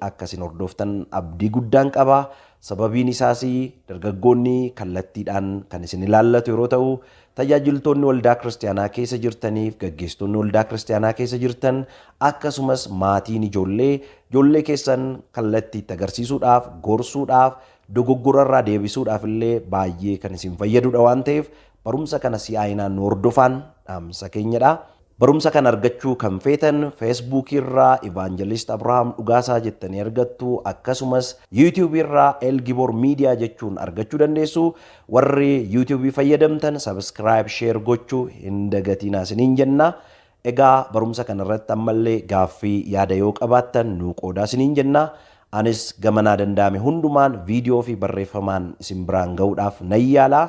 Akka isin hordoftan abdii guddaan qaba. Sababiin isaas dargaggoonni kallattiidhaan kan isin ilaallatu yeroo ta'u, tajaajiltoonni waldaa kiristiyaanaa keessa jirtaniif gaggeessitoonni waldaa kiristiyaanaa keessa jirtan akkasumas maatiin ijoollee ijoollee keessan kallattii itti agarsiisuudhaaf, gorsuudhaaf, dogoggorarraa deebisuudhaaf illee baay'ee kan isin fayyadudha waan ta'eef barumsa kana si'aayinaan nu hordofaan dhaamsa keenyadha. Barumsa kana argachuu kan feetan Facebook irraa Evangelist Abraham Dhugaasaa jettanii argattu akkasumas YouTube irraa El Gibor Media jechuun argachuu dandeessu. Warri YouTube fayyadamtan subscribe share gochuu hin dagatinaa isiniin jenna. Egaa barumsa kana irratti ammallee gaaffii yaada yoo qabaattan nuu qoodaa isiniin jenna. Anis gama naa danda'ame hundumaan viidiyoo fi barreeffamaan isin biraan ga'uudhaaf nan yaala.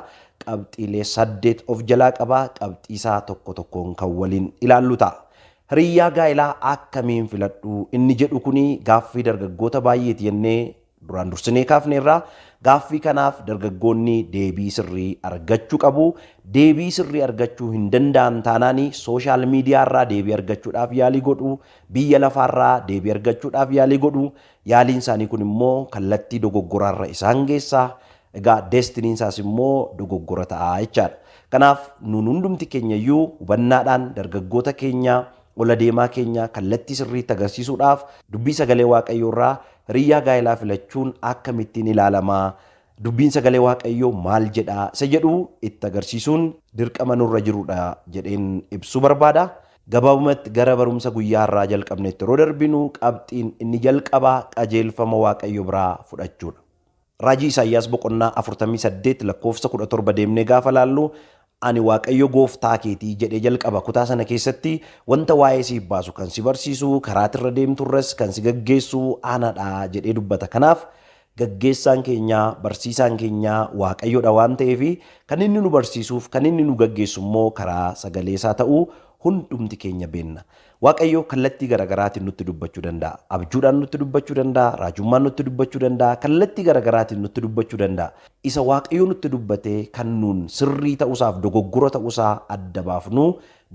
Qabxiilee saddeet of jalaa qaba. Qabxii isaa tokko tokkoon kan waliin ilaallu ta'a. Hiriyyaa gaa'elaa akkamiin filadhu inni jedhu kuni gaaffii dargaggoota baay'eeti jennee duraan dursinee kaafneerra. Gaaffii kanaaf dargaggoonni deebii sirrii argachuu qabu. Deebii sirrii argachuu hin danda'an taanaan sooshaal miidiyaa irraa deebii argachuudhaaf yaalii godhu. biyya lafaarraa deebii argachuudhaaf yaalii godhu. Yaaliin isaanii kun immoo kallattii dogoggoraarra isaan geessa. Egaa deestiniin isaas immoo dogoggora ta'a jechaadha. Kanaaf nuun hundumti keenyayyuu hubannaadhaan dargaggoota keenya, ol adeemaa keenya kallattii sirriitti agarsiisuudhaaf Dubbii Sagalee Waaqayyoorraa hiriyyaa gaa'elaa filachuun akkamittiin ilaalama? Dubbiin Sagalee Waaqayyoo maal jedha isa jedhu itti agarsiisuun dirqama nurra jirudha jedheen ibsuu barbaada. Gabaabumatti gara barumsa guyyaa har'aa jalqabnetti yeroo darbinu qabxiin inni jalqabaa qajeelfama Waaqayyo biraa fudhachuudha. Raajii Isaayyaas boqonnaa 48 lakkoofsa 17 deemnee gaafa laallu Ani Waaqayyo gooftaa keetii jedhee jalqaba. Kutaa sana keessatti wanta waa'ee siif baasu, kan si barsiisu, karaa ati irra deemtu irras kan si gaggeessu ana dha jedhee dubbata. Kanaaf, gaggeessaan keenya, barsiisaan keenya Waaqayyo dha waan ta'eef, kan inni nu barsiisuuf, kan inni nu gaggeessu immoo karaa sagalee isaa ta'uu hundumti keenya beenna. Waaqayyo kallattii garagaraatiin nutti dubbachuu danda'a. Abjuudhaan nutti dubbachuu danda'a, raajummaan nutti dubbachuu danda'a, kallattii garagaraatiin nutti dubbachuu danda'a. Isa Waaqayyo nutti dubbate kan nuun sirrii ta'usaaf dogoggora ta'usaa adda baafnu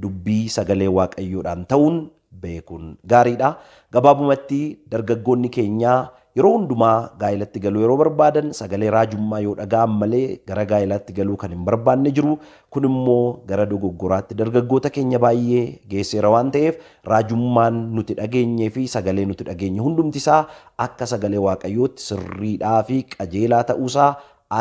dubbii sagalee Waaqayyoodhaan ta'uun beekuun gaariidha. Gabaabumatti dargaggoonni keenya Yeroo hundumaa gaa'elatti galuu yeroo barbaadan sagalee raajummaa yoo dhaga'an malee gara gaa'elaatti galuu kan hin barbaanne jiru. Kun immoo gara dogoggoraatti dargaggoota keenya baay'ee geesseera waan ta'eef raajummaan nuti dhageenyee fi sagalee nuti dhageenye hundumti isaa akka sagalee Waaqayyootti sirriidhaa fi qajeelaa ta'uusaa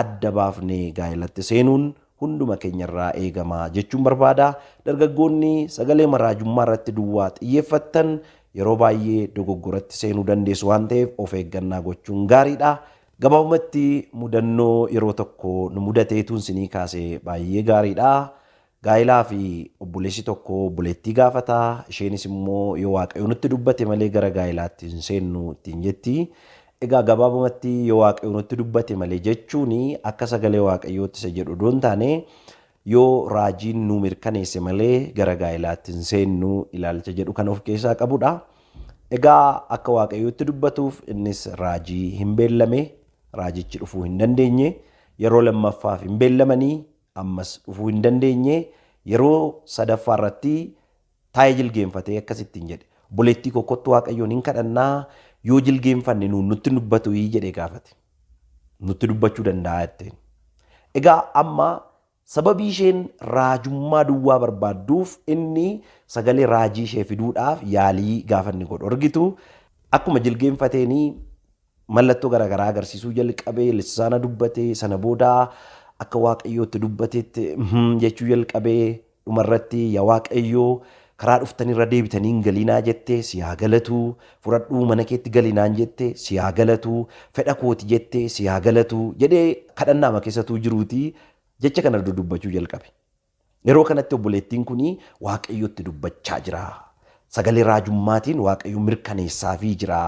adda baafnee gaa'elatti seenuun hunduma keenyarraa eegama jechuun barbaada. Dargaggoonni sagaleema raajummaa irratti duwwaa xiyyeeffattan yeroo baay'ee dogoggoratti seenuu dandeessu waan ta'eef of eeggannaa gochuun gaariidha. Gabaabumatti mudannoo yeroo tokko nu mudate tuun sinii kaase baay'ee gaariidha. Gaa'ilaa fi obboleessi tokko obboleettii gaafata. Isheenis immoo yoo waaqayyo nutti dubbate malee gara gaa'ilaatti hin seennu ittiin jetti. Egaa gabaabumatti yoo Waaqayyo nutti dubbate malee jechuun akka sagalee Waaqayyootti isa jedhu odoo hin taane yoo raajiin nuu mirkaneesse malee gara gaa'ilaatti hin seennu ilaalcha jedhu kan of keessaa qabudha. Egaa akka Waaqayyootti dubbatuuf innis raajii hin beellame, raajichi dhufuu hin dandeenye, yeroo lammaffaaf hin beellamanii ammas dhufuu hin dandeenye, yeroo sadaffaa irratti Taa'ee jilgeenfatee akkas ittiin jedhe, Obboleettii ko, kottu Waaqayyoon in kadhannaa, yoo jilgeenfanne nuun nutti hin dubbatui? jedhee gaafate. Nutti dubbachuu danda'a jetteen. Egaa amma sababii isheen raajummaa duwwaa barbaadduuf inni sagalee raajii ishee fiduudhaaf yaalii gaafa inni godhu argitu akkuma jilgeenfateenii Mallattoo gara garaa agarsiisuu jalqabe, lissaana dubbate, sana booda akka Waaqayyoo itti dubbatetti him jechuu jalqabe, dhuma irratti ya Waaqayyoo karaa dhuftanii irra deebitanii hin galinaa jette, si haa galatu, fudhadhuu mana keetti gali naan jette, si haa galatu, fedha kooti jette, si haa galatu jedhee kadhannaama keessa utuu jiruutii jecha kana dudubbachuu jalqabe. Yeroo kanatti obboleettiin kun Waaqayyotti dubbachaa jira. Sagalee raajummaatiin Waaqayyo mirkaneessaafii jira.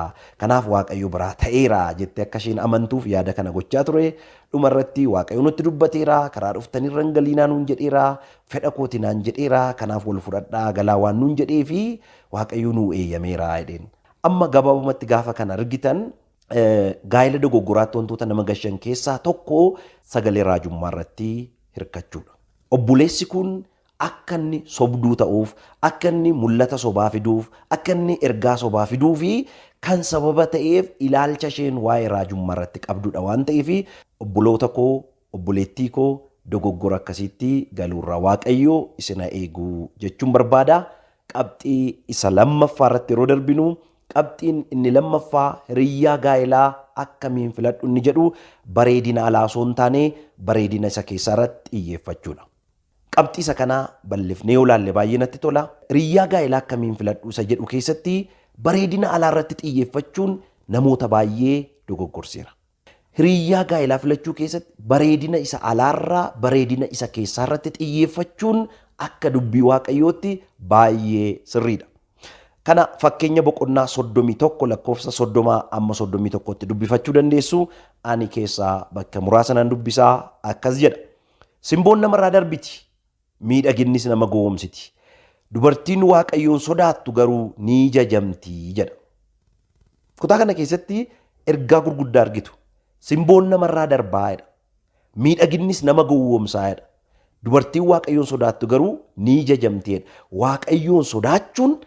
Kanaaf Waaqayyo biraa ta'eera jettee akka isheen amantuuf yaada kana gochaa ture. Dhuma irratti Waaqayyo nutti dubbateera, karaa dhuftanirra hin galiinaa nuun jedheera, fedha kooti naan jedheera, kanaaf wal fudhadhaa galaa waan nuun jedhee fi Waaqayyo nuu eeyyameera jedheen. Amma gabaabumatti gaafa kana argitan Gaa'ela dogoggoraatti wantoota nama gashan keessaa tokko sagalee raajummaa irratti hirkachuudha. Obboleessi kun akka inni sobduu ta'uuf, akka inni mul'ata sobaa fiduuf, akka inni ergaa sobaa fiduu fi kan sababa ta'eef ilaalcha isheen waa'ee raajummaa irratti qabdudha waan ta'eef obboloota koo Obboleettii koo dogoggora akkasiitti galuurraa Waaqayyo isin ha eegu jechuun barbaada. Qabxii isa lammaffaa irratti yeroo darbinu qabxiin inni lammaffaa hiriyyaa gaa'elaa akkamiin filadhu inni jedhu bareedina alaa osoo hin taane bareedina isa keessaa irratti xiyyeeffachuudha. Qabxii isa kana bal'ifnee yoo ilaalle baay'ee natti tola. Hiriyyaa gaa'elaa akkamiin filadhu isa jedhu keessatti bareedina alaa irratti xiyyeeffachuun namoota baay'ee dogoggorseera. Hiriyaa gaa'elaa filachuu keessatti bareedina isa alaarraa bareedina isa keessaarratti xiyyeeffachuun akka dubbii Waaqayyootti baay'ee sirriidha. Kana fakkeenya boqonnaa 31 lakkoofsa 30 amma 31tti dubbifachuu dandeessu ani keessaa bakka muraasa nan dubbisaa akkas jedha. Simboon namarraa darbiti, miidhaginnis nama gowomsiti. Dubartiin Waaqayyoon sodaattu garuu ni jajamti jedha. Kutaa kana keessatti ergaa gurguddaa argitu. Simboon namarraa darbaa jedha. Miidhaginnis nama gowwoomsaa jedha. Dubartiin Waaqayyoon sodaattu garuu ni jajamti jedha. Waaqayyoon sodaachuun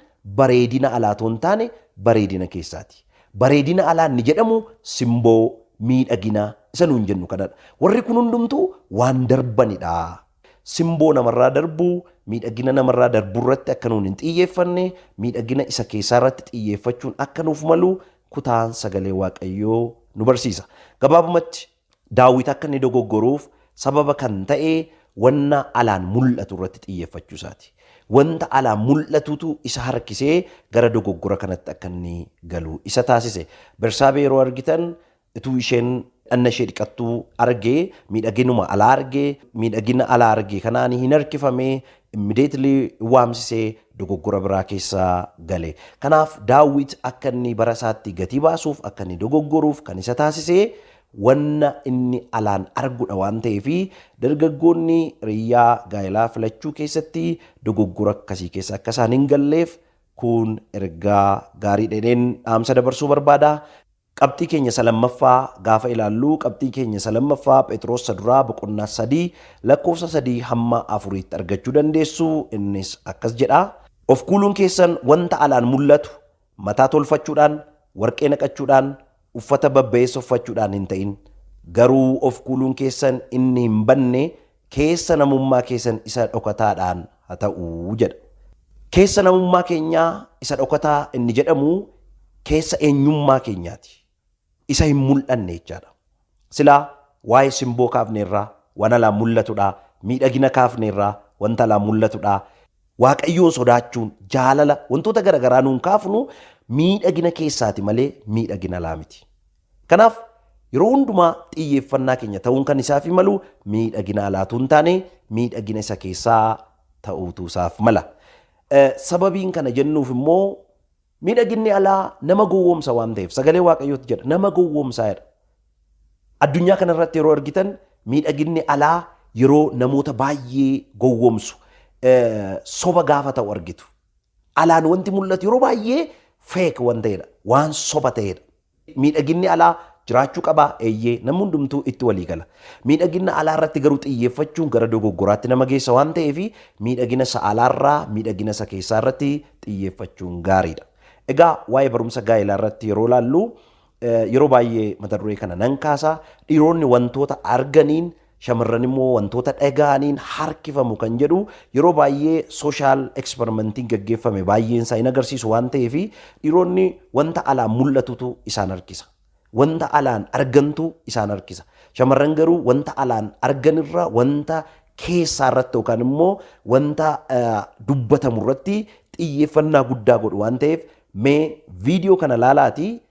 bareedina alaa otoo hin taane bareedina keessaati. Bareedina alaa inni jedhamu simboo miidhagina isa nuun jennu kanadha. Warri kun hundumtuu waan darbanidha. Simboo namarraa darbu, miidhagina namarraa darburratti akka nuun hin xiyyeeffanne, miidhagina isa keessaarratti xiyyeeffachuun akka nuuf malu kutaan sagalee Waaqayyoo nu barsiisa. Gabaabumatti, Daawit akka inni dogoggoruuf sababa kan ta'e wanna alaan mul'atu irratti xiyyeeffachuu isaati. Wanta alaan mul'atutu isa harkisee gara dogoggora kanatti akka inni galu isa taasise. Bersaabee yeroo argitan Utuu isheen dhanna ishee dhiqattuu arge, miidhaginuma alaa arge, miidhagina alaa arge kanaan hin harkifame, immediately waamsise dogoggora biraa keessa gale. Kanaaf Daawit akka inni bara isaatti gatii baasuuf, akka inni dogoggoruuf kan isa taasise wanna inni alaan argudhaa waan ta'eef dargaggoonni riyyaa gaa'elaa filachuu keessatti dogoggora akkasii keessa akka isaan hin galleef kun ergaa gaariidha jedheen dhaamsa dabarsuu barbaada. Qabxii keenya isa lammaffaa gaafa ilaallu, qabxii keenya isa lammaffaa Phexros isa duraa boqonnaa 3 lakkoofsa 3 hamma 4tti argachuu dandeessu. Innis akkas jedha. Of kuuluun keessan wanta alaan mul'atu, mataa tolfachuudhaan, warqee naqachuudhaan, uffata babba'eessa uffachuudhaan hin ta'in. Garuu of kuuluun keessan inni hin badne Keessa namummaa keessan isa dhokataadhaan ha ta'u jedha. Keessa namummaa keenyaa isa dhokataa inni jedhamu keessa eenyummaa keenyaati. Isa hin mul'anne jechaadha. Silaa waa'ee simboo kaafneerraa waan alaan mul'atudha. Miidhagina kaafneerraa wanta alaan mul'atudha. Waaqayyoon sodaachuun, jaalala, wantoota garagaraa nuun kaafnu miidhagina keessaati malee miidhagina alaa miti. Kanaaf yeroo hundumaa xiyyeeffannaa keenya ta'uun kan isaaf malu miidhaginaa laatuu hin taane miidhagina isa keessaa ta'uutu isaaf mala. Sababiin kana jennuuf immoo miidhaginni alaa nama gowwoomsa waan ta'eef sagalee waaqayyootti jedha nama gowwoomsaa jedha. Addunyaa kanarratti yeroo argitan miidhaginni alaa yeroo namoota baay'ee gowwoomsu soba gaafa ta'u argitu. Alaan wanti mul'atu yeroo baay'ee feek waan ta'edha waan soba ta'edha. Miidhaginni alaa jiraachuu qabaa? Eeyyee, namni hundumtuu itti walii gala. Miidhagina alaa irratti garuu xiyyeeffachuun gara dogoggoraatti nama geessa waan ta'eef, miidhagina isa alaa irraa miidhagina isa keessaa irratti xiyyeeffachuun gaarii dha. Egaa waa'ee barumsa gaa'elaa irratti yeroo ilaallu, yeroo baay'ee mata duree kana nan kaasa, dhiironni wantoota arganiin Shamarran immoo wantoota dhaga'aniin harkifamu kan jedhu yeroo baay'ee sooshaal ekspermentiin gaggeeffame baay'een isaa hin agarsiisu waan ta'eef dhiironni wanta alaan mul'atutu isaan harkisa. Wanta alaan argantu isaan harkisa. Shamarran garuu wanta alaan arganirra wanta keessaa irratti yookaan immoo wanta dubbatamu irratti xiyyeeffannaa guddaa godhu waan ta'eef mee viidiyoo kana laalaatii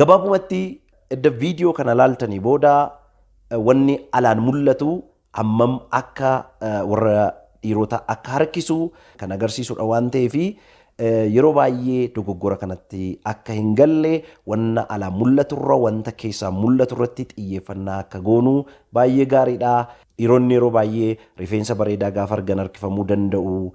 Gabaabumatti edda viidiyoo kana laaltanii booda wanni alaan mul'atu hammam akka warra dhiiroota akka harkisu kan agarsiisudha waan ta'eef yeroo baay'ee dogoggora kanatti akka hin galle wanna alaa mul'aturra wanta keessaa mul'aturratti xiyyeeffannaa akka goonu baay'ee gaariidha. Dhiironni yeroo baay'ee rifeensa bareedaa gaafa argan harkifamuu danda'u.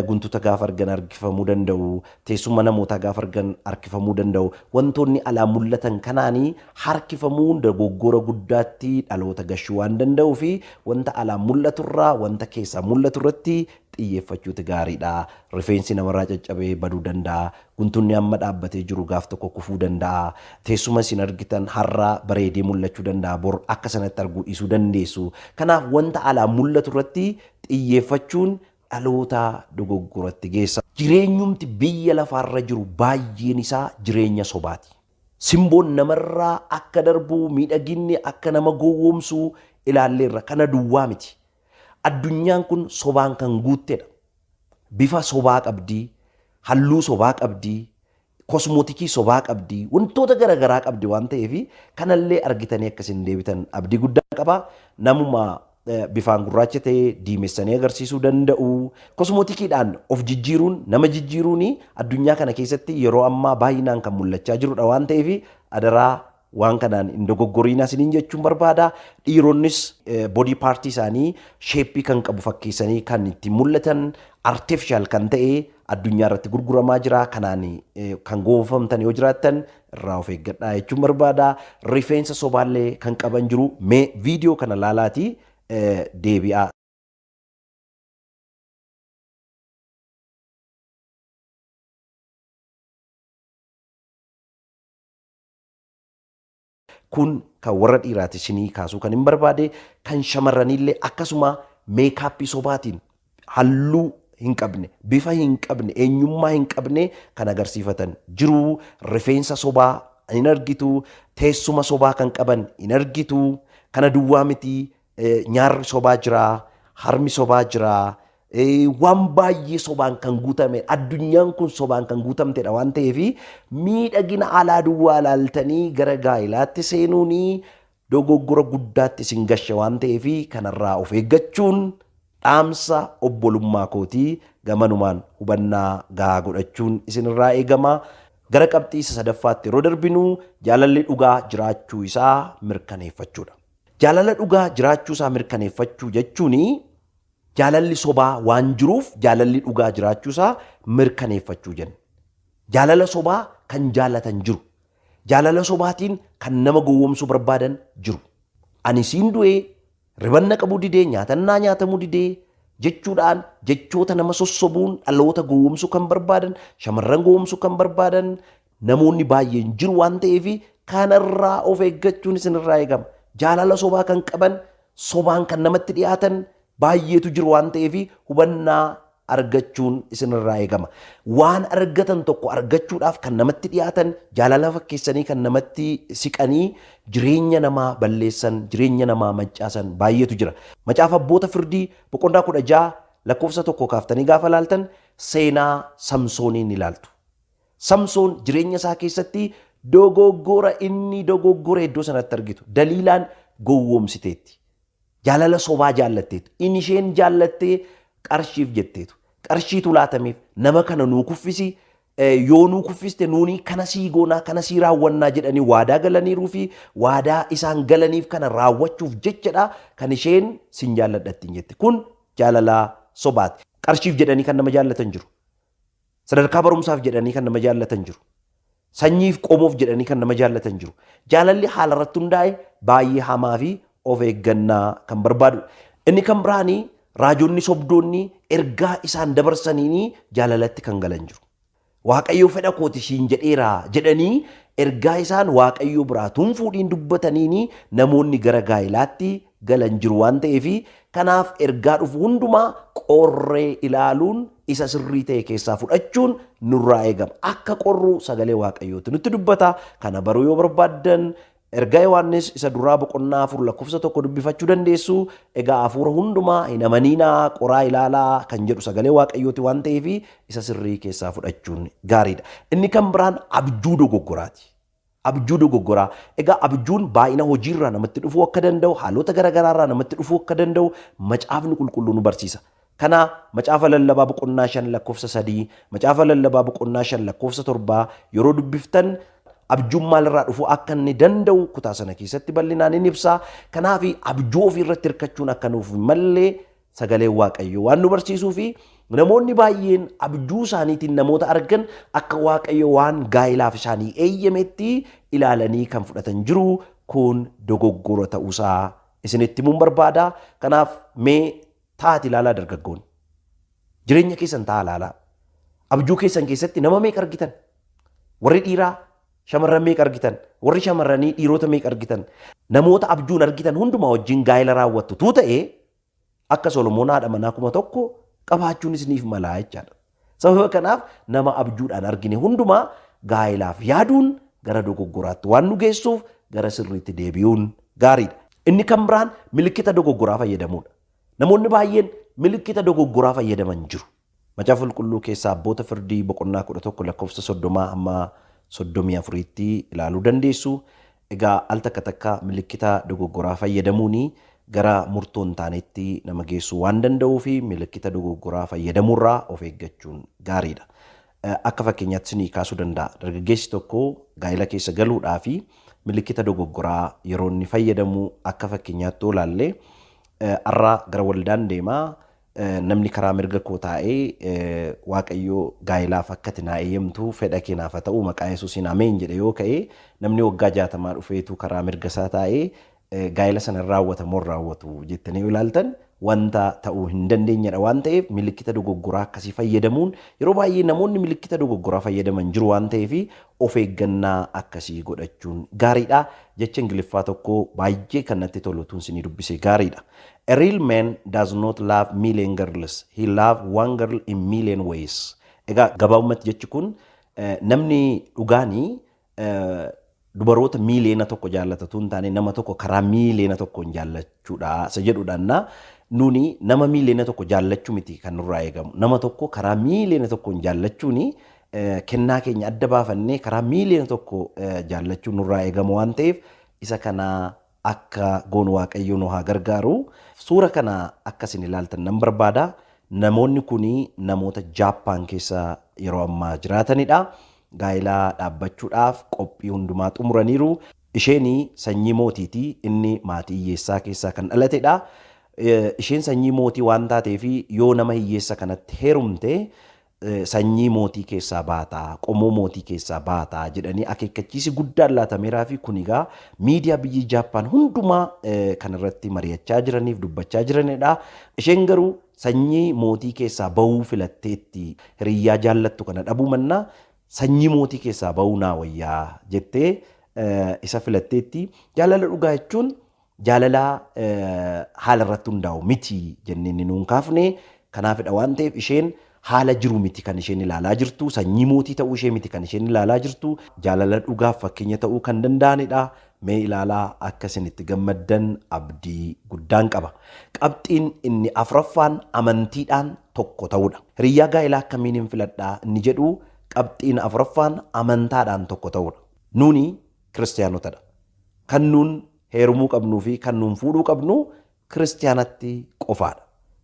Guntuta gaafa argan harkifamuu danda'u, teessumma namootaa gaafa argan harkifamuu danda'u. Wantoonni alaa mul'atan kanaanii harkifamuun dogoggora guddaatti dhaloota gashuu waan danda'uufi wanta alaa mul'aturraa wanta keessaa mul'atu irratti xiyyeeffachuuti gaariidha. Rifeensi namarraa caccabee baduu danda'a. Guntunni amma dhaabbatee jiru gaaf tokko kufuu danda'a. Teessuma isin argitan har'a bareedee mul'achuu danda'a bor akka sanatti arguu dhiisuu dandeessu. Kanaaf wanta alaa mul'atu irratti xiyyeeffachuun dhalootaa dogoggoratti geessa. Jireenyumti biyya lafaarra jiru baay'een isaa jireenya sobaati. Simboon namarra akka darbu, miidhaginni akka nama gowwoomsu ilaalleerra. Kana duwwaa miti. Addunyaan kun sobaan kan guuttedha. Bifa sobaa qabdi, halluu sobaa qabdi, kosmootikii sobaa qabdi, wantoota gara garaa qabdi waan ta'eef kanallee argitanii akka isin deebitan abdii guddaan qaba. Namuma eh, bifaan gurraacha ta'e diimessanii agarsiisuu danda'u. Kosmootikiidhaan of jijjiiruun nama jijjiiruun addunyaa kana keessatti yeroo ammaa baay'inaan kan mul'achaa jirudha waan ta'eef adaraa Waan kanaan hin dogoggoriinaa isiniin jechuun barbaada. Dhiironnis body part isaanii sheeppii kan qabu fakkeessanii kan ittiin mul'atan artificial kan ta'e addunyaa irratti gurguramaa jira. Kanaan eh, kan goonfamtan yoo jiraattan irraa of eeggadhaa jechuun barbaada. Rifeensa sobaallee kan qaban jiru. Mee viidiyoo kana laalaatii eh, deebi'aa. Kun kan warra dhiiraati isinii kaasuu kan hin barbaade kan shamarraniillee akkasuma meekaappii sobaatiin halluu hin qabne bifa hin qabne eenyummaa hin qabne kan agarsiifatan jiru rifeensa sobaa hin argitu teessuma sobaa kan qaban hin argitu kana duwwaa miti Nyaarri sobaa jira, harmi sobaa jira, waan baay'ee sobaan kan guutame addunyaan kun sobaan kan guutamtedha waan ta'eef miidhagina alaa duwwaa ilaaltanii gara gaa'ilaatti seenuun dogoggora guddaatti isin gasha waan ta'eef kanarraa of eeggachuun dhaamsa obbolummaa kooti gamanumaan hubannaa gahaa godhachuun isinirraa eegama. Gara qabxii isa sadaffaatti yeroo darbinu jaalalli dhugaa jiraachuu isaa mirkaneeffachuudha. Jaalala dhugaa jiraachuu isaa mirkaneeffachuu jechuun jaalalli sobaa waan jiruuf jaalalli dhugaa jiraachuu isaa mirkaneeffachuu jenna. Jaalala sobaa kan jaalatan jiru. Jaalala sobaatiin kan nama gowwomsuu barbaadan jiru. Ani siin du'ee, riban na qabuu didee, nyaatan naa nyaatamuu didee jechuudhaan jechoota nama sossobuun dhaloota gowwomsuu kan barbaadan, shamarran gowwomsuu kan barbaadan, Namoonni baay'een jiru waan ta'eef kanarraa of eeggachuun isinirraa eegama. Jaalala sobaa kan qaban, sobaan kan namatti dhiyaatan baay'eetu jiru waan ta'eef hubannaa argachuun isinirraa eegama. Waan argatan tokko argachuudhaaf kan namatti dhiyaatan, jaalala fakkeessanii kan namatti siqanii jireenya namaa balleessan, jireenya namaa mancaasan baay'eetu jira. Macaafa Abboota Firdii boqonnaa 16 lakkoofsa 1 kaaftanii gaafa ilaaltan seenaa Samsooniin ilaaltu. Samsoon jireenya isaa keessatti dogoggora inni dogoggore iddoo sanatti argitu. Daliilaan gowwoomsiteetti. Jaalala sobaa jaallatteetu. In isheen jaallattee qarshiif jetteetu. Qarshiitu laatameef nama kana nuu kuffisi yoo nuu kuffiste nuuni kana sii goonaa kana sii raawwannaa jedhanii waadaa galaniiruu fi waadaa isaan galaniif kana raawwachuuf jechadha kan isheen sin jaalladhattiin jette. Kun jaalalaa sobaati. Qarshiif jedhanii kan nama jaallatan jiru. Sadarkaa barumsaaf jedhanii kan nama jaallatan jiru. Sanyiif qomoof jedhanii kan nama jaallatan jiru. Jaalalli haala irratti hundaa'e baay'ee hamaa fi of eeggannaa kan barbaadu. Inni kan biraanii raajonni sobdoonni ergaa isaan dabarsaniini jaalalatti kan galan jiru. Waaqayyoo fedha kooti siin jedheera jedhanii ergaa isaan waaqayyoo biraa tun fuudhiin dubbataniini namoonni gara gaa'ilaatti galan jiru waan ta'eef kanaaf ergaa dhufu hundumaa qorree ilaaluun isa sirrii ta'e keessaa fudhachuun nurraa eegama. Akka qorru sagalee Waaqayyooti nutti dubbata. Kana baruu yoo barbaaddan ergaa Yohaannis isa duraa boqonnaa afur lakkoofsa tokko dubbifachuu dandeessu. Egaa hafuura hundumaa hin amaniinaa qoraa ilaalaa kan jedhu sagalee Waaqayyooti waan ta'eef isa sirrii keessaa fudhachuun gaariidha. Inni kan biraan abjuu dogoggoraati. Abjuu dogoggoraa. Egaa abjuun baay'ina hojiirraa namatti dhufuu akka danda'u, haalota garagaraarraa namatti dhufuu akka danda'u macaafni qulqulluu nu barsiisa. Kana macaafa lallabaa boqonnaa 5 lakkoofsa 3, macaafa lallabaa boqonnaa 5 lakkoofsa 7 yeroo dubbiftan abjuun maalirraa dhufuu akka inni danda'u kutaa sana keessatti bal'inaan in ibsa. Kanaaf abjuu ofiirratti hirkachuun akka nuuf hin malle Sagaleen Waaqayyoo waan nu barsiisuu fi namoonni baay'een abjuu isaaniitiin namoota argan akka Waaqayyo waan gaa'ilaaf isaanii eeyyametti ilaalanii kan fudhatan jiru kun dogoggora ta'uusaa isinitti himuun barbaada. Kanaaf mee taa'aati ilaalaa dargaggoon. Jireenya keessan taa'aa ilaalaa. Abjuu keessan keessatti nama meeqa argitan? Warri dhiiraa Shamarran meeqa argitan? Warri shamarranii dhiirota meeqa argitan? Namoota abjuun argitan hundumaa wajjin gaa'ela raawwattu tuu ta'e akka Solomoon haadha manaa kuma tokko qabaachuun isiniif malaa jechaadha. Sababa kanaaf nama abjuudhaan argine hundumaa gaa'elaaf yaaduun gara dogoggoraatti waan nu geessuuf gara sirriitti deebi'uun gaariidha. Inni kan biraan milikkita dogoggoraa fayyadamuudha. Namoonni baay'een milikkita dogoggoraa fayyadaman jiru. Macaafa Qulqulluu keessaa Abboota Firdii boqonnaa 11 lakkoofsa 30 hamma 34tti ilaaluu dandeessu. Egaa al takka takka milikkita dogoggoraa fayyadamuun gara murtoo hin taanetti nama geessuu waan danda'uuf milikkita dogoggoraa fayyadamuurraa of eeggachuun gaariidha. Akka fakkeenyaatti isinii kaasuu danda'a. Dargaggeessi tokko gaa'ela keessa galuudhaa fi milikkita dogoggoraa yeroo inni fayyadamu akka fakkeenyaatti yoo ilaalle har'a gara waldaan deema Namni karaa mirga koo taa'ee Waaqayyo gaa'ilaaf akka ati naa eeyyamtu fedha kee naaf haa ta'u maqaa Yesuusiin ameen jedhe yoo ka'e namni waggaa jaatamaa dhufeetu karaa mirga isaa taa'ee gaa'ila sana hin raawwata moo hin raawwatu jettanii yoo ilaaltan wanta ta'uu hin dandeenyedha waan ta'eef milikkita dogoggoraa akkasii fayyadamuun yeroo baay'ee namoonni milikkita dogoggoraa fayyadaman jiru waan ta'eef of eeggannaa akkasii godhachuun gaariidha jecha ingiliffaa tokko baay'ee kan natti tolu tun sinii dubbise gaariidha. A real man does not love million girls, he love one girl in million ways. Egaa gabaabumatti jechi kun namni dhugaani dubaroota miiliyoona tokko jaallata utuu hin taane nama tokko karaa miiliyoona tokkoon jaallachuudha isa jedhudhaannaa nuuni nama miiliyoona tokko jaallachuu miti kan nurraa eegamu nama tokko karaa miiliyoona tokkoon jaallachuuni kennaa keenya adda baafannee karaa miiliyoona tokko jaallachuu nurraa eegamu waan ta'eef isa kanaa akka goonu waaqayyoo nu haa gargaaru. Suura kana akka isin ilaaltan nan barbaada. Namoonni kun namoota Jaappaan keessa yeroo ammaa jiraatanidha. Gaa'ila dhaabbachuudhaaf qophii hundumaa xumuraniiru. Isheen sanyii mootiiti. Inni maatii hiyyeessaa keessaa kan dhalatedha. Isheen sanyii mootii waan taateef yoo nama hiyyeessa kanatti heerumte sanyii mootii keessaa baata, qomoo mootii keessaa baata jedhanii akeekkachiisi guddaan laatameeraafi kun egaa miidiyaa biyyi Jaappaan hundumaa kanarratti mari'achaa jiraniif dubbachaa jiranidha. Isheen garuu sanyii mootii keessaa bahuu filatteetti hiriyyaa jaallattu kana dhabuu mannaa sanyii mootii keessaa bahuu naa wayyaa jettee isa filatteetti. Jaalala dhugaa jechuun Jaalala haala irratti hundaa'u miti jennee inni nuun kaafne kanaafidha waan ta'eef isheen haala jiru miti kan isheen ilaalaa jirtu sanyii mootii ta'uu ishee miti kan isheen ilaalaa jirtu jaalala dhugaaf fakkeenya ta'uu kan danda'anidha mee ilaalaa akka isin itti gammaddan abdii guddaan qaba. Qabxiin inni afraffaan amantiidhaan tokko ta'uudha. Hiriyyaa gaa'elaa akkamiin hin filadhaa inni jedhu qabxiin afraffaan amantaadhaan tokko ta'uudha. Nuuni Kiristiyaanota dha. Kan nuun heerumuu qabnuu fi kan nuun fuudhuu qabnu Kiristiyaanatti qofaa dha.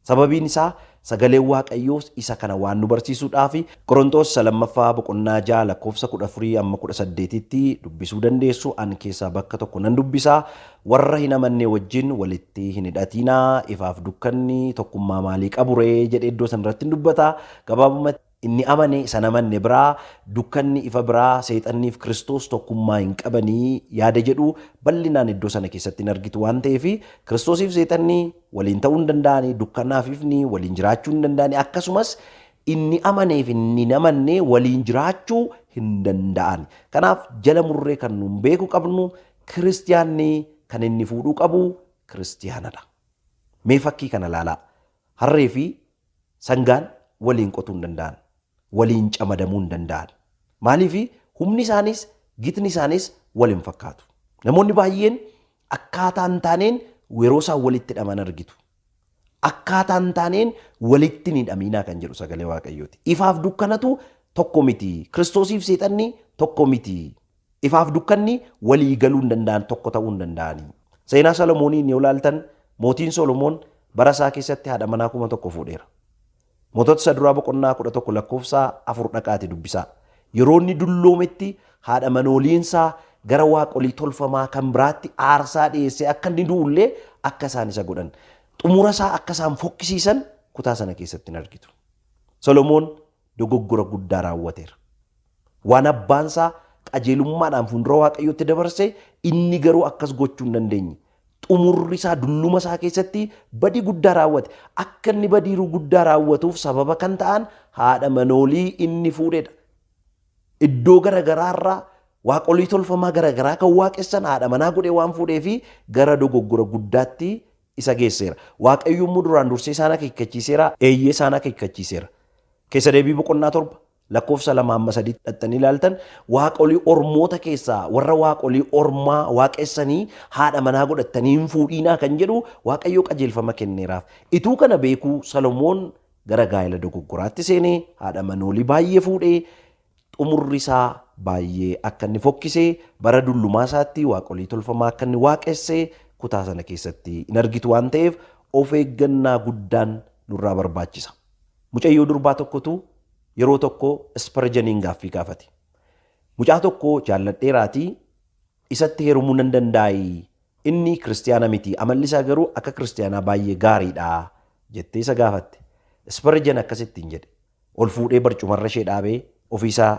Sababiin isaa sagaleen Waaqayyoos isa kana waan nu barsiisuudhaafi. Qoronxoos isa lammaffaa boqonnaa 6 lakkoofsa 14-18 tti dubbisuu dandeessu, an keessaa bakka tokko nan dubbisa, Warra hin amannee wajjin walitti hin hidhatiinaa, ifaaf dukkanni tokkummaa maalii qabu ree? jedhee iddoo sana irratti in dubbata. Gabaabumatti. Inni amane isa hin amanne biraa dukkanni ifa biraa, Seexanniif Kiristoos tokkummaa hin qabani yaada jedhu bal'inaan iddoo sana keessatti hin argitu waan ta'eef, Kiristoosiif Seexanni waliin ta'uu hin danda'ani, dukkanaaf ifni waliin jiraachuu hin danda'ani, akkasumas inni amaneef inni hin amanne waliin jiraachuu hin danda'ani. Kanaaf jala murree kan nuun beeku qabnu Kiristiyaanni kan inni fuudhuu qabu Kiristiyaanadha. Mee fakkii kana ilaalaa. Harree fi Sangaan waliin qotuu hin danda'an. Waliin camadamuu hin danda'an. Maaliif humni isaaniis gitni isaaniis wal hin fakkaatu. Namoonni baay'een akkaataa hin taaneen yeroo isaan walitti hidhaman argitu. Akkaataa hin taaneen walitti hin hidhamiinaa kan jedhu sagalee Waaqayyooti. Ifaaf dukkanatu tokko miti. Kiristoosiif seexanni tokko miti. Ifaaf dukkanni walii galuu hin danda'an, tokko ta'uu hin danda'ani. Seenaa Solomoonii inni yoo laaltan mootiin Solomoon bara isaa keessatti haadha manaa kuma tokko fuudheera. Mootota isa duraa boqonnaa 11 lakkoofsa 4 dhaqaati dubbisaa. Yeroo inni dulloometti haadha manooliin isaa gara waaqolii tolfamaa kan biraatti aarsaa dhiyeessee akka inni du'ullee akka isaan isa godhan. Xumura isaa akka isaan fokkisiisan kutaa sana keessatti hin argitu. Solomoon dogoggora guddaa raawwateera. Waan abbaan isaa qajeelummaadhaan fuuldura Waaqayyootti dabarse inni garuu akkas gochuu hin dandeenye. Xumurri isaa dulluma isaa keessatti badii guddaa raawwate. Akka inni badiiruu guddaa raawwatuuf sababa kan ta'an haadha manoolii inni fuudhedha. Iddoo garagaraa irraa waaqolii tolfamaa garagaraa kan waaqessan haadha manaa godhee waan fuudhee fi gara dogoggora guddaatti isa geesseera. Waaqayyo immoo duraan dursee isaan akeekkachiiseera. Eeyyee isaan akeekkachiiseera. Keessa deebii boqonnaa torba lakkoofsa lama hamma sadiitti dhaxxanii ilaaltan waaqolii ormoota keessaa warra waaqolii ormaa waaqessanii haadha manaa godhattanii hin fuudhiinaa kan jedhu waaqayyo qajeelfama kenneeraaf. Ituu kana beekuu Salomoon gara gaa'ela dogoggoraatti seenee haadha manoolii baay'ee fuudhee Xumurri isaa baay'ee akka inni fokkise, bara dullumaa isaatti waaqolii tolfamaa akka inni waaqesse kutaa sana keessatti in argitu waan ta'eef of eeggannaa guddaan nurraa barbaachisa. Mucayyoo durbaa tokkotu yeroo tokko Isparjaniin gaaffii gaafate. Mucaa tokko jaalladheeraatii isatti heerumuu nan dandaa'ii? Inni kiristiyaana miti, amalli isaa garuu akka kiristiyaanaa baay'ee gaariidha jettee isa gaafatte. Isparjan akkas ittiin jedhe, Ol fuudhee barcumarra ishee dhaabee ofiisaa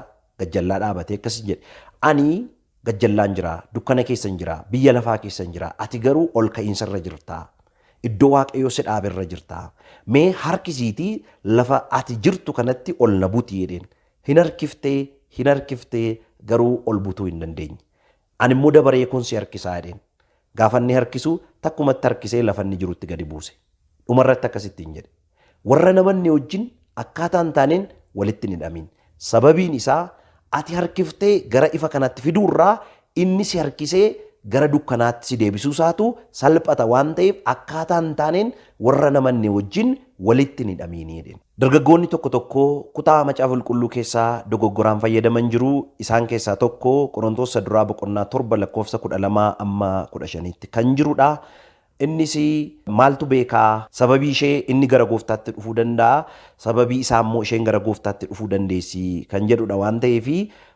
gajjallaa dhaabatee akkasiin jedhe. Ani gajjallaan jira, dukkana keessan jira, biyya lafaa keessan jira, ati garuu ol ka'iinsarra jirta. Iddoo Waaqayyo si dhaaberra jirta. Mee harkisiitii lafa ati jirtu kanatti ol na buti jedheen. Hin harkiftee, hin harkiftee garuu ol butuu hin dandeenye. Ani immoo dabaree koon si harkisaa jedheen. Gaafa inni harkisu takkumatti harkisee lafa inni jirutti gadi buuse. Dhuma irratti akkas ittiin jedhe. Warra namanne wajjin akkaataa hin taaneen walitti hin hidhamiin. Sababiin isaa ati harkiftee gara ifa kanaatti fiduu irraa inni si harkisee gara dukkanaatti si deebisuu isaatu salphata waan ta'eef akkaataa hin taaneen warra namanne wajjin walitti hin hidhamiinii jedheen. Dargaggoonni tokko tokko kutaa Macaafa Qulqulluu keessaa dogoggoraan fayyadaman jiru, isaan keessaa tokko Qorontos Isa Duraa boqonnaa 7 lakkoofsa 12-15tti kan jiru dha. Innis maaltu beekaa sababii ishee inni gara gooftaatti dhufuu danda'a, sababii isaa immoo isheen gara gooftaatti dhufuu dandeessi kan jedhu dha waan ta'eef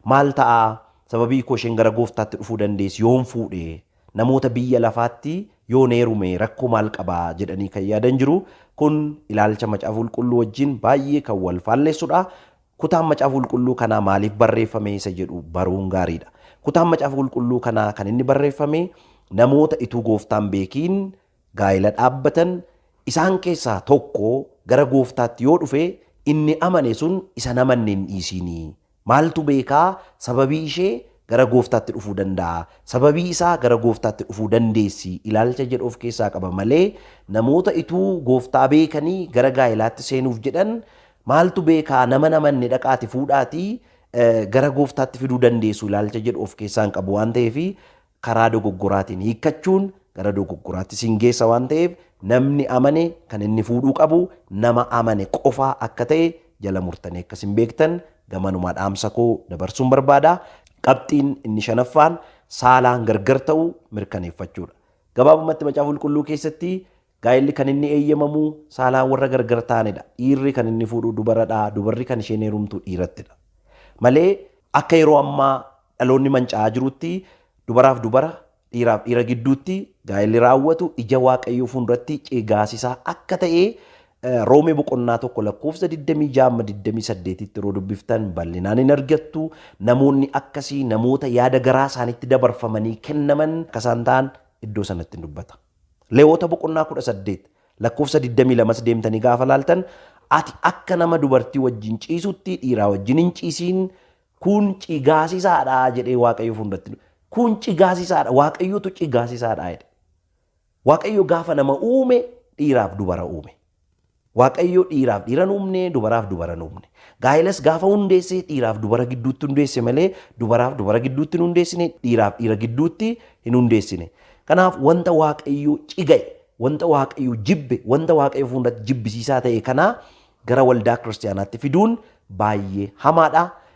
maal ta'a sababii koo isheen gara gooftaatti dhufuu dandeessi yoon fuudhe Namoota biyya lafaatti yoon heerume rakkoo maal qaba jedhanii kan yaadan jiru. Kun ilaalcha Macaafa Qulqulluu wajjin baay'ee kan wal faallessudha. Kutaan Macaafa Qulqulluu kanaa maaliif barreeffame isa jedhu baruun gaariidha. Kutaan Macaafa Qulqulluu kanaa kan inni barreeffame namoota ituu gooftaan beekiin gaa'ela dhaabbatan isaan keessaa tokko gara gooftaatti yoo dhufe inni amane sun isan amanne hin dhiisiinii Maaltu beeka, sababii ishee gara Gooftaatti dhufuu danda'a, sababii isaa gara Gooftaatti dhufuu dandeessi ilaalcha jedhu of keessaa qaba malee namoota ituu Gooftaa beekanii gara gaa'elaatti seenuuf jedhan maaltu beeka nama hin amanne dhaqaati fuudhaatii gara Gooftaatti fiduu dandeessu ilaalcha jedhu of keessaa hin qabu waan ta'eef karaa dogoggoraatiin hiikkachuun gara dogoggoraatti sin geessa waan ta'eef namni amane kan inni fuudhuu qabu nama amane qofaa akka ta'e jala murtanii akka sin beektan gamanumaa dhaamsa koo dabarsuun barbaada. Qabxiin inni shanaffaan saalaan gargar ta'u mirkaneeffachuudha. Gabaabumatti macaafa qulqulluu keessatti Gaa'elli kan inni eeyyamamu saalaan warra gargar ta'anidha. Dhiirri kan inni fuudhu dubaradha, dubarri kan isheen heerumtu dhiirattidha. Malee akka yeroo ammaa dhaloonni manca'aa jirutti dubaraaf dubara, dhiiraaf dhiira gidduutti gaa'elli raawwatu ija Waaqayyoo fuulduratti cigaasisaa akka ta'e Roomee boqonnaa tokko lakkoofsa 26-28tti yeroo dubbiftan bal'inaan hin argattu. Namoonni akkasii namoota yaada garaa isaanitti dabarfamanii kennaman akka isaan ta'an iddoo sanatti hin dubbata. Lewwota boqonnaa 18 lakkoofsa 22s deemtanii gaafa laaltan ati akka nama dubartii wajjin ciisutti dhiiraa wajjin hin ciisiin kun cigaasisaadha jedhee waaqayyo fuundatti kun cigaasisaadha waaqayyotu cigaasisaadha jedhe. Waaqayyo gaafa nama uume dhiiraaf dubara uume. Waaqayyo dhiiraaf dhiira hin uumne, dubaraaf dubara hin uumne. Gaa'ilas gaafa hundeesse dhiiraaf dubara gidduutti hundeesse malee dubaraaf dubara gidduutti hin hundeessine, dhiiraaf dhiira gidduutti hin hundeessine. Kanaaf wanta Waaqayyo ciga'e, wanta Waaqayyo jibbe, wanta Waaqayyo fuundatti jibbisiisaa ta'e kana gara waldaa kiristiyaanaatti fiduun baay'ee hamaadha.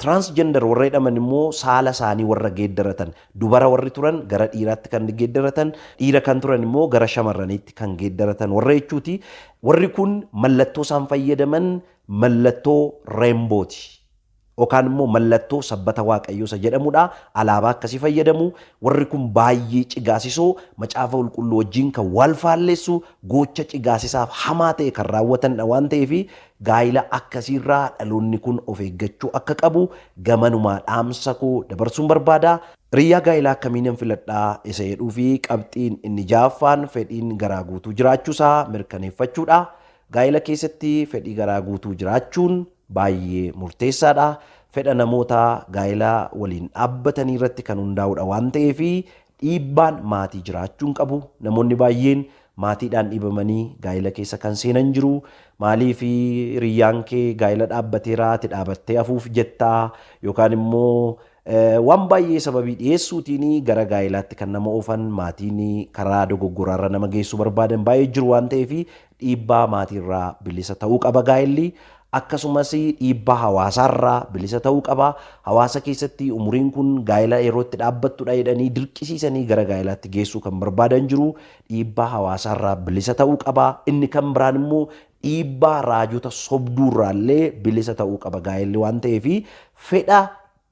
Transgender warra jedhaman immoo saala isaanii warra geeddaratan, dubara warri turan gara dhiiraatti kan geeddaratan, dhiira kan turan immoo gara shamarraniitti kan geeddaratan warra jechuuti. Warri kun mallattoo isaan fayyadaman mallattoo rainbow ti. Yookaan immoo mallattoo sabbata waaqayyoo isa jedhamudha. Alaabaa akkasii fayyadamu. Warri kun baay'ee cigaasisoo macaafa qulqulluu wajjin kan wal faalleessu gocha cigaasisaaf hamaa ta'e kan raawwatanidha waan ta'eef Gaa'ila akkasiirraa dhaloonni kun of eeggachuu akka qabu gamanumaa dhaamsa koo dabarsuun barbaada. Hiriyyaa gaa'ilaa akkamiinan filadha isa jedhuufi qabxiin inni ja'affaan fedhiin garaa guutuu jiraachuusaa mirkaneeffachuudha. Gaa'ila keessatti fedhii garaa guutuu jiraachuun baay'ee murteessaadha. Fedha namoota gaa'ila waliin dhaabbatanii irratti kan hundaa'udha waan ta'eef Dhiibbaan maatii jiraachuu hin qabu. Namoonni baay'een maatiidhaan dhiibamanii gaa'ila keessa kan seenan jiru. Maaliif hiriyyaan kee gaa'ila dhaabbateera ati dhaabattee hafuuf jettaa? Yookaan immoo waan baay'ee sababii dhiyeessuutiin gara gaa'ilaatti kan nama oofan maatiin karaa dogoggoraarra nama geessuu barbaadan baay'ee jiru waan ta'eef Dhiibbaa maatiirraa bilisa ta'uu qaba gaa'elli. Akkasumas dhiibbaa hawaasaarraa bilisa ta'uu qaba. Hawaasa keessatti umuriin kun gaa'ela yeroo itti dhaabbattudha jedhanii dirqisiisanii gara gaa'elaatti geessuu kan barbaadan jiru. Dhiibbaa hawaasaarraa bilisa ta'uu qaba. Inni kan biraan immoo dhiibbaa raajota sobduurraallee bilisa ta'uu qaba gaa'elli waan ta'eef fedha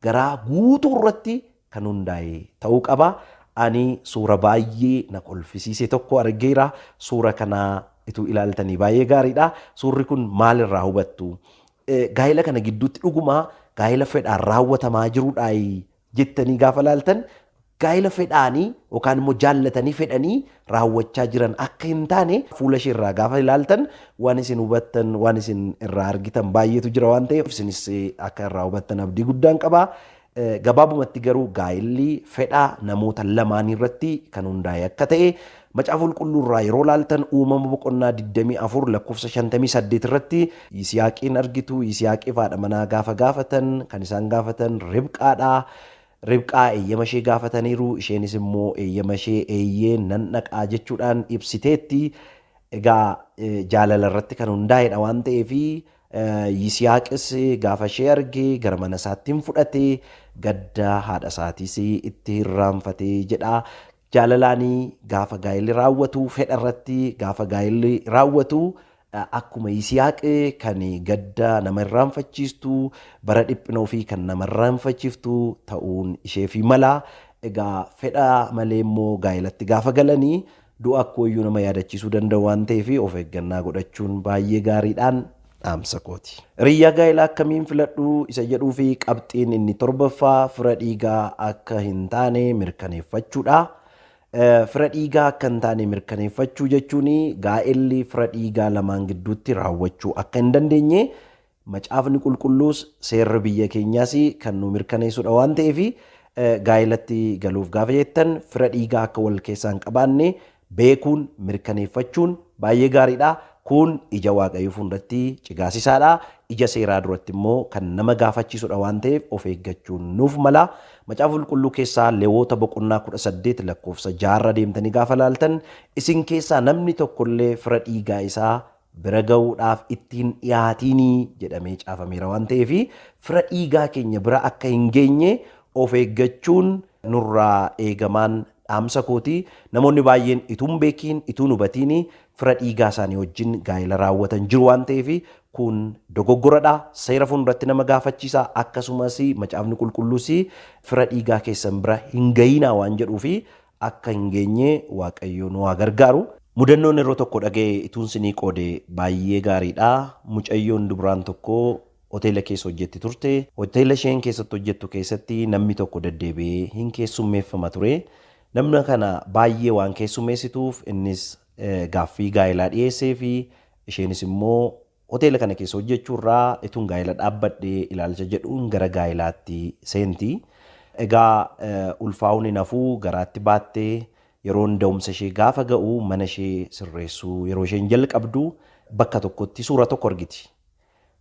garaa guutuu irratti kan hundaa'e ta'uu qaba. Ani suura baay'ee na kolfisiise tokko argeera. Suura kana ituu ilaaltanii baay'ee gaariidha. Suurri kun maalirraa hubattu? Gaa'ela kana gidduutti dhuguma gaa'ela fedhaan raawwatamaa jirudhaa jettanii gaafa ilaaltan gaa'ila fedhaanii yookaan immoo jaallatanii fedhanii raawwachaa jiran akka hin taane fuula ishee irraa gaafa ilaaltan waan isin hubattan waan isin irraa argitan baay'eetu jira waan ta'eef isinis akka irraa hubattan abdii guddaan qaba. Gabaabumatti garuu gaa'illi fedhaa namoota lamaanii irratti kan hundaa'e akka ta'e macaafa qulqulluu irraa yeroo laaltan uumama boqonnaa 24 lakkoofsa 58 irratti Yisihaaqiin argitu Yisihaaqiif haadha manaa gaafa gaafatan kan isaan gaafatan Ribqaadha. Ribqaa eeyyama ishee gaafataniiru, isheenis immoo eeyyama ishee eeyyee nan dhaqaa jechuudhaan ibsiteetti. Egaa jaalala irratti kan hundaa'edha waan ta'eef Yisihaaqis gaafa ishee arge gara mana isaatti hin fudhate gadda haadha isaatiis itti hirraanfatee jedha. Jaalalaani gaafa gaa'elli raawwatu, fedha irratti gaafa gaa'elli raawwatu akkuma Yisihaaq kan gadda nama irraanfachiistu, bara dhiphina ofii kan nama irraanfachiftu ta'uun isheefi mala. Egaa fedha malee immoo gaa'elatti gaafa galani du'a akkooyyuu nama yaadachiisuu danda'u waan ta'eef of eeggannaa godhachuun baay'ee gaariidhaan dhaamsa kooti. Hiriyyaa gaa'elaa akkamiin filadhu isa jedhuu fi qabxiin inni torbaffaa fira dhiigaa akka hin taane mirkaneeffachuudha. Fira dhiigaa akka hin taane mirkaneeffachuu jechuun gaa'elli fira dhiigaa lamaan gidduutti raawwachuu akka hin dandeenye macaafni qulqulluus seerri biyya keenyaas kan nu mirkaneessudha waan ta'eef gaa'elatti galuuf gaafa jettan fira dhiigaa akka wal keessaa hin qabaanne beekuun, mirkaneeffachuun baay'ee gaariidha. Kun ija Waaqayyoo fuulduratti cigaasisaadha. Ija seeraa duratti immoo kan nama gaafachiisudha waan ta'eef of eeggachuun nuuf mala. Macaafa Qulqulluu keessaa Lewoota boqonnaa 18 lakkoofsa 6 irra deemtanii gaafa laaltan isin keessaa namni tokkollee fira dhiigaa isaa bira ga'uudhaaf itti hin dhiyaatiinii jedhamee caafameera waan ta'eef fira dhiigaa keenya bira akka hin geenye of eeggachuun nurraa eegamaan dhaamsa kooti. Namoonni baay'een ituu hin beekiin, ituu hin hubatiini fira dhiigaa isaanii wajjin gaa'ela raawwatan jiru waan ta'eef kun dogoggoradha. Seera fuulduratti nama gaafachiisa. Akkasumas macaafni qulqulluus fira dhiigaa keessan bira hin ga'iinaa waan jedhuuf akka hin geenye waaqayyoo nu haa gargaaru. Mudannoon yeroo tokko dhaga'e ituun sinii qoode baay'ee gaariidha. Mucayyoon dubraan tokko hoteela keessa hojjetti turte. Hoteela isheen keessatti hojjettu keessatti namni tokko deddeebi'ee hin keessummeeffama ture. Namna kana baay'ee waan keessummeessituuf innis gaaffii gaa'elaa dhiyeesseefi isheenis immoo Hoteela kana keessa hojjechuu irraa ituun gaa'ela dhaabbadhe ilaalcha jedhuun gara gaa'elaatti seenti. Egaa ulfaa'uun hin hafu garaatti baatte. Yeroon da'umsa ishee gaafa ga'u mana ishee sirreessuu yeroo isheen jalqabdu bakka tokkotti suura tokko argiti.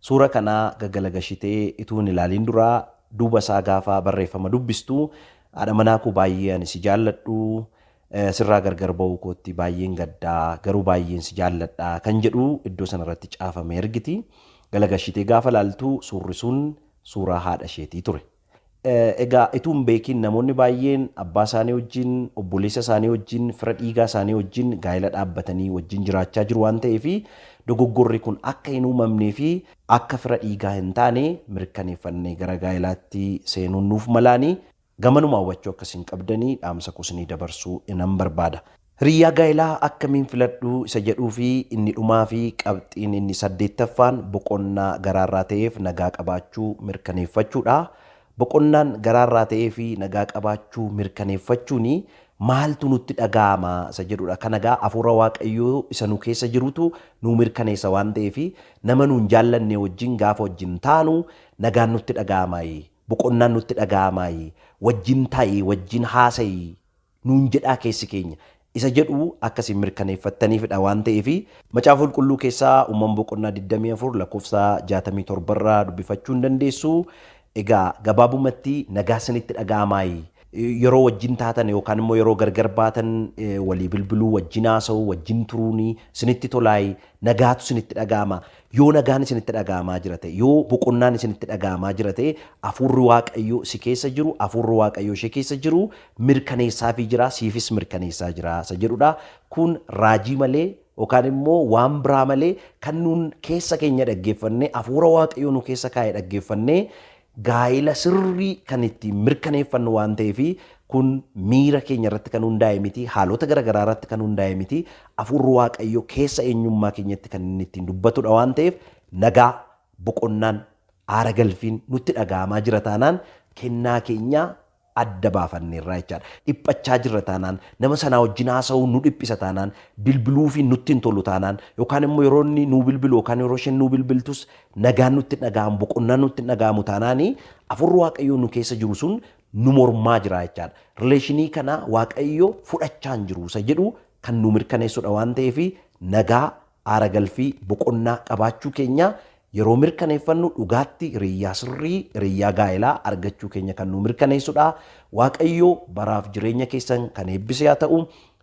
Suura kana gagalagashitee ituu hin ilaaliin dura duuba isaa gaafa barreeffama dubbistu haadha manaa koo baay'ee ani si jaalladhu Sirraa gargar ba'uu kootti baay'een gadda, garuu baay'een si jaalladha kan jedhu iddoo sana irratti caafame argiti. Galagashitee gaafa laaltu suurri sun suuraa haadha isheetii ture. Egaa ituu hin beekiin namoonni baay'een abbaa isaanii wajjin, obboleessa isaanii wajjin, fira dhiigaa isaanii wajjin gaa'ela dhaabbatanii wajjin jiraachaa jiru waan ta'eef dogoggorri kun akka hin uumamnee fi akka fira dhiigaa hin taane mirkaneeffannee gara gaa'elaatti seenuun nuuf malaani. Gamanumaa hubachuu akka isin qabdanii dhaamsa koo isinii dabarsuu nan barbaada. Hiriyyaa gaa'elaa akkamiin filadhu isa jedhuu fi inni dhumaa fi qabxiin inni saddeettaffaan boqonnaa garaa irraa ta'eef nagaa qabaachuu mirkaneeffachuu dha. Boqonnaan garaa irraa ta'ee fi nagaa qabaachuu mirkaneeffachuun maaltu nutti dhaga'ama isa jedhu dha. Kana egaa hafuura Waaqayyoo isa nu keessa jirutu nuu mirkaneessa waan ta'eef nama nuun jaallannee wajjin gaafa wajjin taanu nagaan nutti dhaga'ama. Boqonnaan nutti dhaga'amaayii, wajjin taa'ii, wajjin haasa'ii nuun jedhaa keessi keenya? isa jedhu akka isin mirkaneeffattaniifidha waan ta'eef, Macaafa Qulqulluu keessaa Uumama boqonnaa 24 lakkoofsa 67 irraa dubbifachuu ni dandeessu. Egaa gabaabumatti nagaa isinitti dhaga'amaayii? Yeroo wajjin taatan yookaan immoo yeroo gargar baatan walii bilbiluu, wajjin haasa'uu, wajjin turuun isinitti tolaayii? Nagaatu isinitti dhaga'ama? Yoo nagaan isinitti dhaga'amaa jira ta'e, yoo boqonnaan isinitti dhaga'amaa jira ta'e, Hafuurri Waaqayyoo si keessa jiru, Hafuurri Waaqayyoo ishee keessa jiru mirkaneessaafii jira, siifis mirkaneessaa jira isa jedhudha. Kun raajii malee yookaan immoo waan biraa malee kan nuun keessa keenya dhaggeeffannee, Hafuura Waaqayyoo nu keessa kaa'e dhaggeeffannee Gaa'ila sirrii kan ittiin mirkaneeffannu waan ta'eef kun miira keenya irratti kan hundaa'e miti, haalota gara garaa irratti kan hundaa'e miti, Hafuurri Waaqayyoo keessa eenyummaa keenyatti kan inni ittiin dubbatudha waan ta'eef nagaa, boqonnaan, aara galfiin nutti dhaga'amaa jira taanaan kennaa keenya adda baafanneerra jechaadha. Dhiphachaa jirra taanaan, nama sanaa wajjin haasa'uun nu dhiphisa taanaan, bilbiluufiin nutti hin tolu taanaan, yookaan immoo yeroo inni nuu bilbilu yookaan yeroo isheen nuu bilbiltus nagaan nutti hin dhaga'amu, boqonnaan nutti hin dhaga'amu taanaan, Hafuurri Waaqayyoo nu keessa jiru sun nu mormaa jira jechaadha. Rileeshinii kana Waaqayyo fudhachaa hin jiru isa jedhu kan nuu mirkaneessudha waan ta'eef nagaa Aara galfii boqonnaa qabaachuu keenya yeroo mirkaneeffannu dhugaatti hiriyyaa sirrii, hiriyyaa gaa'elaa, argachuu keenya kan nuu mirkaneessudha. Waaqayyo baraaf jireenya keessan kan eebbise haa ta'u.